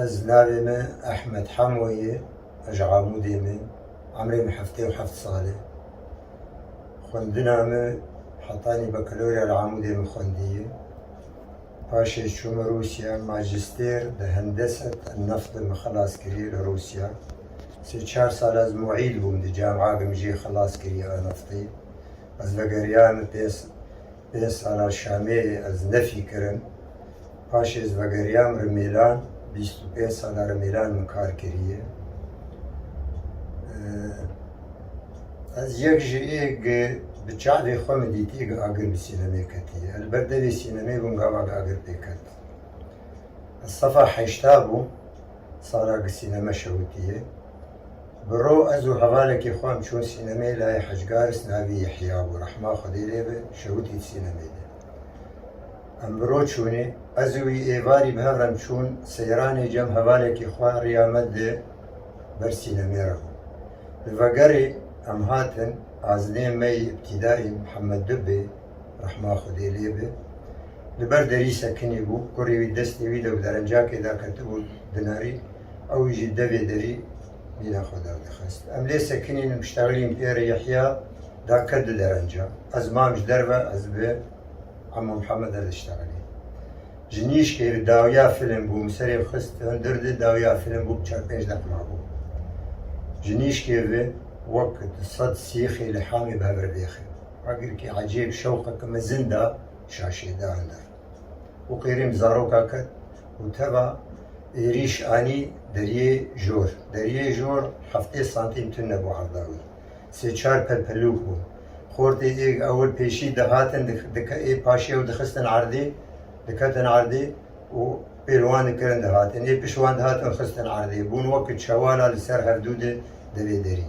Ez navê me Ehmed Hemo ye, ez ji Amûdê me, emrê me heftê û heft sal e. Xwendina me hetanî bakalorya li Amûdê min xwendiye. Paşê çûm Rûsya, majîstêr di hendeset en neft de min xilas kiriye li Rûsya. Sê çar sal ez muîl bûm di camîa de min jê xilas kiriye a neftê. Ez vegeriya me pê Pê sala Şamêrê ez nefî kirim. Paşê ez vegeriyam Rimêlan, bîst û pênc sala Rimêlan min kar kiriye. Ez yek ji ê gi bi çavê xwe min dîtiye gi agir bi sînemê ketiye. Li ber devê sînemê bûm gava gi agir pê ket. Ez sefa heşta bûm. Sala bi sîneme şewitiye. Bi ro ez û hevalekê xwe em çûn sînemeyê layê Hicgaris navî Yehya bû rehma Xwedê lê be şewitî di sînemeyê de. Em bi ro çûnê. Ez û wî êvarî bi hev re em çûn seyranê cem hevalekê xwe riya me di ber sînemê re bû. Li vegerê em hatin azinê me yê îbtîdaî Mihemed Dubê Rehma Xwedê lê be. Li ber derî sekinî bû. Kurê wî destê wî de bi derencakê de ketibû dinarî. Ew jî devê derî nîna xwe derdixist. Em lê sekinîn û piştexilîn pê re. Yehya da ket di derenca. Ez mam ji derve, ez bi Emo Mihemed re diştexilîm. Ji nîşkê re dawiya filim bû. Min serê xist hundir de dawiya filim bû bi çar pênc deq mabû. Ji nîşkê re wek di sed sîxê li hamê bi hev re bêxin. Agirkî ecêb şewqeke mezin da şaşêdan de û qêrîm zaroka ket û teva êrîş anî Deriyê Jor. Deriyê Jor heftê santîm tune bû erda wî. Sê çar pelpelûk bûn. Xortê êg ewil pêşî dihatin ê paşê û dixistin erdê, diketin erdê û pêl wan dikirin dihatin. Ê pişt wan dihatin xistin erdê. Bûn weke çewala li ser hevdû de devê derî.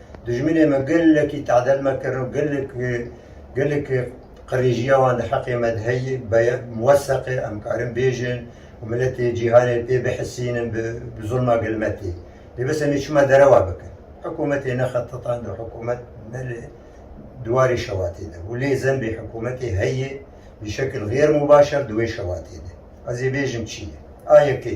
Dijminê me gelekî tadel me kir û gelek gelek qirêjiya wan di heqê me de heye beye muweseqe em karin bêjin û miletê cîhanê pê bihisînin bi bi zulma gel me tê. Lê bes em ê çima derewa bikin. Hikûmetê nexe titan de hikûmet nele diwarê şewatê de û lê zenbê hikûmetê heye bi şekil xêr mûbaşer di wê şewatê de. Ez ê bêjim çi ye? A yekê.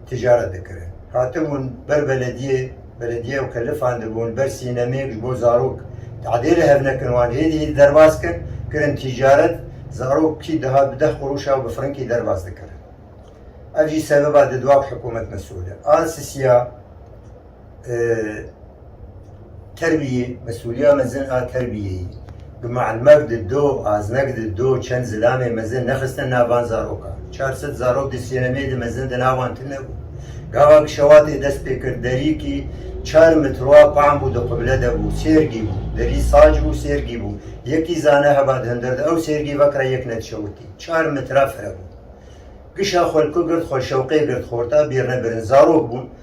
ticaret dikirin. Hatibûn ber belediyê, belediyê ew kelifan dibûn, ber sînemêk ji bo zarok tadê li hev nekin wan hêdî hêdî derbas kir, kirin ticaret, zarok kî dihat bi deh quruş ew bi firinkî derbas dikirin. Ev jî sebeba di dua ku hikûmet mesûl e. Ansisiya Terbiyê, mesûliya mezin a terbiyeyî. Bi mielmek di do, aznek di do çend zilamê mezin nexistine nav van zarokan. Çar sed zarok di sênemê di mezin di nav wan tune bû. Gava ku şewatê dest pê kir derîkî çar mitroa pahm bû di qibile de bû, sêrgî bû. Derî sac bû, sêrgî bû. Yekî zane heva di hundir de ew sêrgî vekira yek ne dişewitî. Çar mitra fire bû. Kişa xwelku girt xwe şewqê girt xorta bîrne birin. Zarok bûn.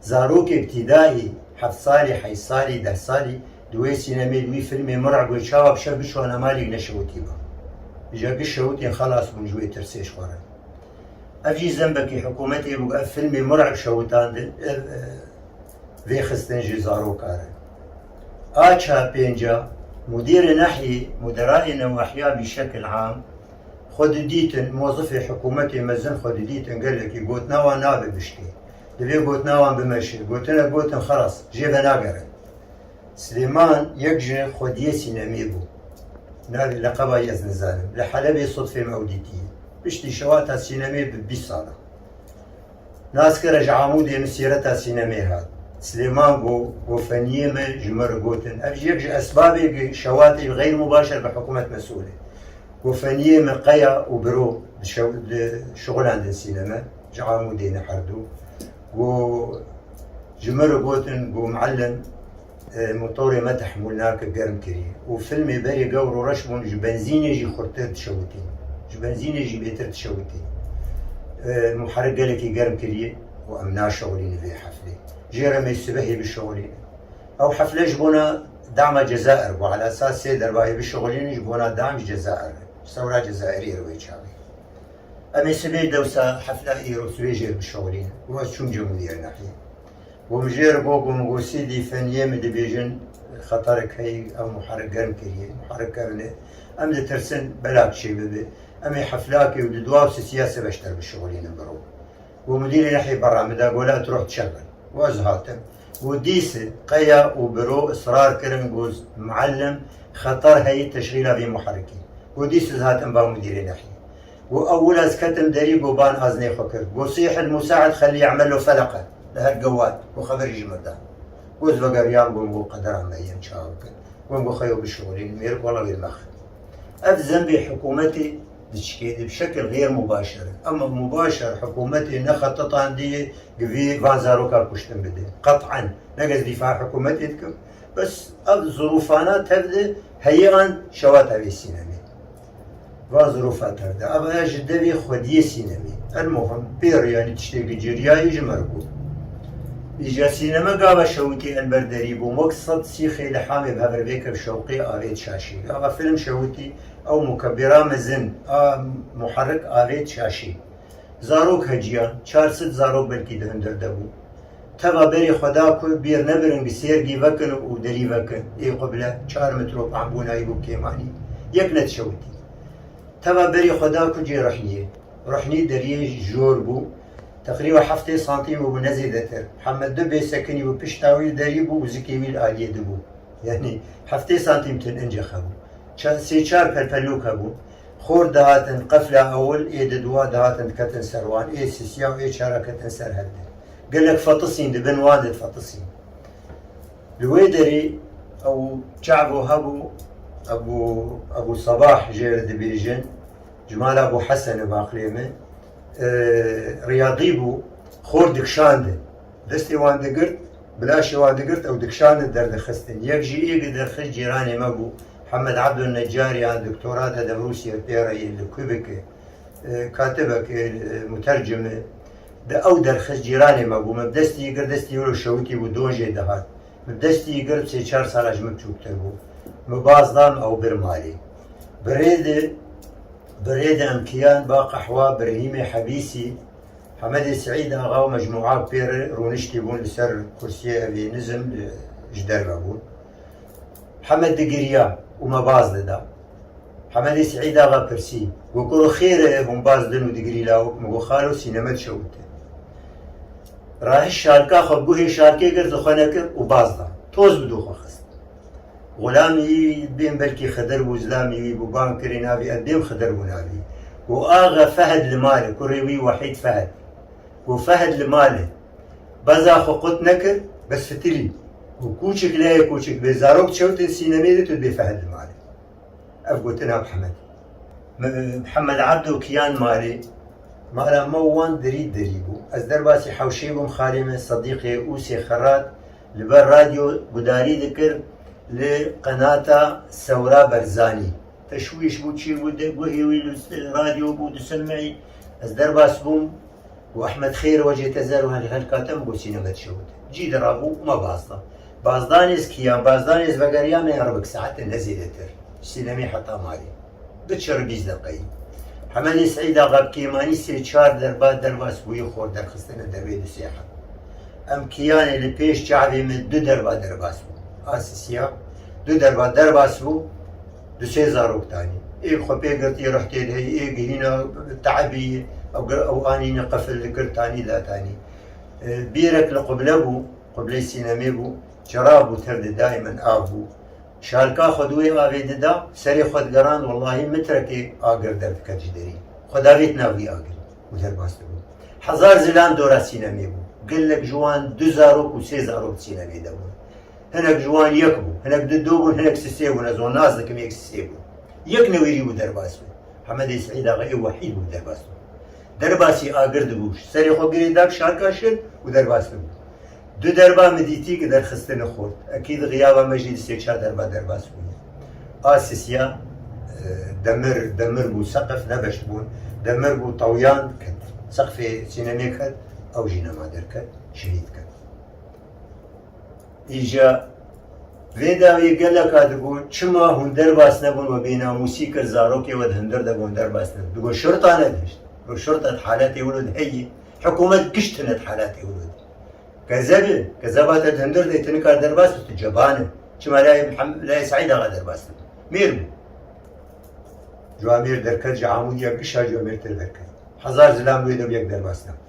Zarokek tîdayî heft salî, heyşt salî, deh salî di wê sînemê, di wî filmê min re got çawa bi şev biçûana malî neşewitîba. Îja giş şewitên xelas bûn ji wê tirsê ji xwe re. Ev jî zembekî hikûmetê bû ku ev filmê min re bi şewitan di vê xistin ji zaroka re. A çar pênc a mudîrê nehyê, muderayê newahiya bî şekil am xwe didîtin, mozifê hikûmetê mezin xwe didîtin gelekî got nawa nabe bişkê. Divê gotina wan bimeşin. Gotinek gotin xelas, jê venagerin. Silêman yek ji xwediyê sînemiyê bû. Navê leqeba yê ez nizanim. Li Helebê sodfê me ew dîtiye. Piştî şewa hata sînemiyê bi bîst sal e. Nas kir e ji Amûdê min sîreta sînemiyê hat. Silêman got, Gofeniyê me ji min re gotin. Ev jî yek ji esbabê ku şewa tê xeyr mubaşer bi hikûmet mesûl e. Gofeniyê me qeya û biro di şew di şixulendin sîneme. ji Amûdê ne herdû ku ji min re gotin ku Muellim motorê me tehmûl nake germ kirî û filmê berê gewr û reş bûn ji benzînê jî xurttir dişewitîn ji benzînê jî bêtir dişewitîn muherik gelekî germ kirî û em naşewilînin vê heflê jê re me sibehê bişewilînin ew hefle ji bona dama Cezair bû ala saet sê dervayê bişewilînin ji bona dam ji Cezair re sewra Cezairî ye li wê çavê. Em ê sibê dewsa hefna îro sibê jêr bişewilînin. Roj çûnce min diyar nexî. Û min jêr got ku min got sîdî feniyê min dibêjin xeterek heye ew muherik germ kiriye. Muherik kevin e. Em ditirsin belak çê bibe. Em ê heflakê û di dua û sisiya sibê ji ter bişewilînin bi ro. Û mudîrê nexî berra min da got la tu roj çek bin. Û ez hatim. Got dîse qeya û bi ro israr kirin got muellim xeter heye teşxîla vê muherikê. Got dîse ez hatim ba mudîrê nexî. Got, Ew wir ez ketim derî got ban ez nê xwe kir. Got, Sîhil Musa'id xelî ya'melo feleqe, li her gewad got xeverî ji min da. Got, Vegeriyan got got qedera me yên çawa bikin. Got, Got xwe yo bişuxulînin mêrik wela wê mexin. Ev zembê hikûmetê di çikê de bi şekil xêr mubaşer e. Ema mubaşer hikûmetê ne xetitan dê gi vê van zarokan kuştin bidê. Qet'en nek ez dîfa hikûmetê dikim. Bes ev zirûfana tev de heyê an şewa tevê sînemê. Va zirofa ter de ev her ji devê xwediyê sînemê. Elmuhim pêro yanî tiştê giciriyayî ji mir bû. Îja sîneme gava Şewitî el ber derî bûm wek sed sîxê li hamê bi hev re vêkir şewqê avêt şaşî. Gava fîlm Şewitî ew mukebîra mezin a muherik avêt şaşî. Zarok heciyan, çar sed zarok belkî di hundir de bûn. Teva berê xwe da ku bîr nebirin bi sêrgî vekin û derî vekin. Ê xwe bile çar mitrop em bû nayî bû kêmanî. Yek ne dişewitî. Teva berê xwe da ku cê Ruhniyê. Ruhnî deriyê jor bû. Teqrîba heftê santîm bû ne zêdetir. Heme du bê sekinî bû pişta wî li derî bû û zikê wî li aliyê dibû. Yanî heftê santîm tin ince xebû. Sê çar pelpelok hebûn. Xort dihatin qefla ewil ê di dûa dihatin diketin ser wan ê sisiya û ê çara ketin ser hev de. Gelek fetisîn di bin wan de difetisîn. Li wê derê ew çavû hebû Ebû Ebû Sebah jê re dibêjin, ji mala Ebû Hesen e bi aqilê min, riyadî bû, xort dikişandin. Destê wan digirt, bilaşê wan digirt ew dikişandin derdixistin. Yek ji ê li derxist cîranê me bû. Hemed Abdul Necarian doktora te di Rûsiyê pêre ye li Quebec e. Katibek e, mutercim e. Di ew derxist cîranê me bû. Me bi destî yê girt, destî wilo şewitî bû, don jê dihat. Me bi destî yê girt sê çar sala ji min biçûktir bû. Min baz da, min ew bir malê. Bi rê de, bi rê de em kiyan ba qehwa bi Rehîmê Hebîsî, Hemedê Seîd Axa û mecmûa pêre rûniştî bûn li ser kursiyê ev ê nizm ji derve bûn. Hemed digiriya û me baz dida. Hemedê Sîîd axa pirsî, Got koro xêr e, hûn baz din û digirî lawik? Min got xalo sîne me dişewite. Rahiş şalka xwe guhê şalkê kir, zixwe nekir û baz da. Toz bi dû xwe xist. Xulamî wî bên belkî Xidir bû, zilamî wî bû. Bang kirê navê ev dêm Xidir bû navê. Got axe Fehed li mal e, kurê wî Wehîd Fehed. Got Fehed li mal e. Beza xwe qut nekir, bes fitirî û kûçik leyê kûçik bê zarok çewtên sînemê de tu dibê fehd li malê. Ev gotina Mihemedê. Mihemed Ebdo Kiyan malê mala me û wan dirî dirî bû. Ez derbasî hewşê bûm xalê me Sedîqê Ûsê Xerat li ber radyo gudarî dikir li qenata Sewra Berzanî. Teşwîş bû çi bû guhê wî li radyo bû disilmeyî. Ez derbas bûm. Ku Ehmed Xêr wecê te zer û helhelka te min got sîne me dişewit. Cî dirabû û ma baz da. Baz da nêz kiya, baz da nêz vegeriya me ya ribik saetên ne zêdetir. Sînemî heta malê. Bi çirri bîst deqeyî. Hemedê Seîd Axa bi kêmanî sê çar derba derva sibûyê xor derxistine dervê du sêhet. Em kiyanê li pêş çavê min du derva dervas bû. Asisiya du derva dervas bû. Du sê zarok danî. Ê xwe pê girtî rih tê de yî, ê gihîna te'ebî yî. Ew anîne qefil dikir tanî la tanî. Bîrek li quble bû, qubleyê sînemê bû, çira bû tir di dayê min av bû. Şalka xwe duwê avê dida, serê xwe digerand wellahî mitrekê agir derdike ji derî. Xwe davêt nav wî agirî û derbas dibû. Hezar zilam dora sînemê bû. Gelek ji wan du zarok û sê zarok di sînemê de bûn. Hinek ji wan yek bû, hinek du du bûn, hinek si sê bûn, ez wan nas dikim yek si sê bûn. Yek newêrî bû derbas bû. Hemedê Seîd axa ê wehîd bû derbas bû. Derbasî agir dibû, serê xwe girê da kişarka şir û derbas dibû. Du derba min dîtî ki derxistine xurt. Ekî di xiyaba me jî di sê çar derba derbas bûye. A sisiya demir demir bû, seqif ne beş bûn. Demir bû tawyan ket. Seqfê sînemê ket, ew jî nema derket, şehîd ket. Îja vê dawiyê geleka digo çima hûn derbas nebûn we bênamûsî kir zarokê we di hundir de gon derbas nebû. Digo şurta negihişt. Digo şurta di haletê wilo de heye. Hikûmet giş tune di haletê wilo de. Gezeb e. Gezeba te di hundir de tu nikar derbas bi tu ceban e. Çima layê Mihemed layê Seîd axa derbas nebû. Mêr bû. Cwamêr derket ji Amûdiya gişa Cwamêrtir derket. Hezar zilam wê de bû yek derbas nebû.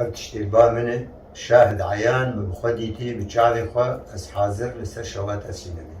Ev tiştên ba min in, şahid eyan, min bi xwe dîtî bi çavên xwe, ez hazir li ser şewa teslim im.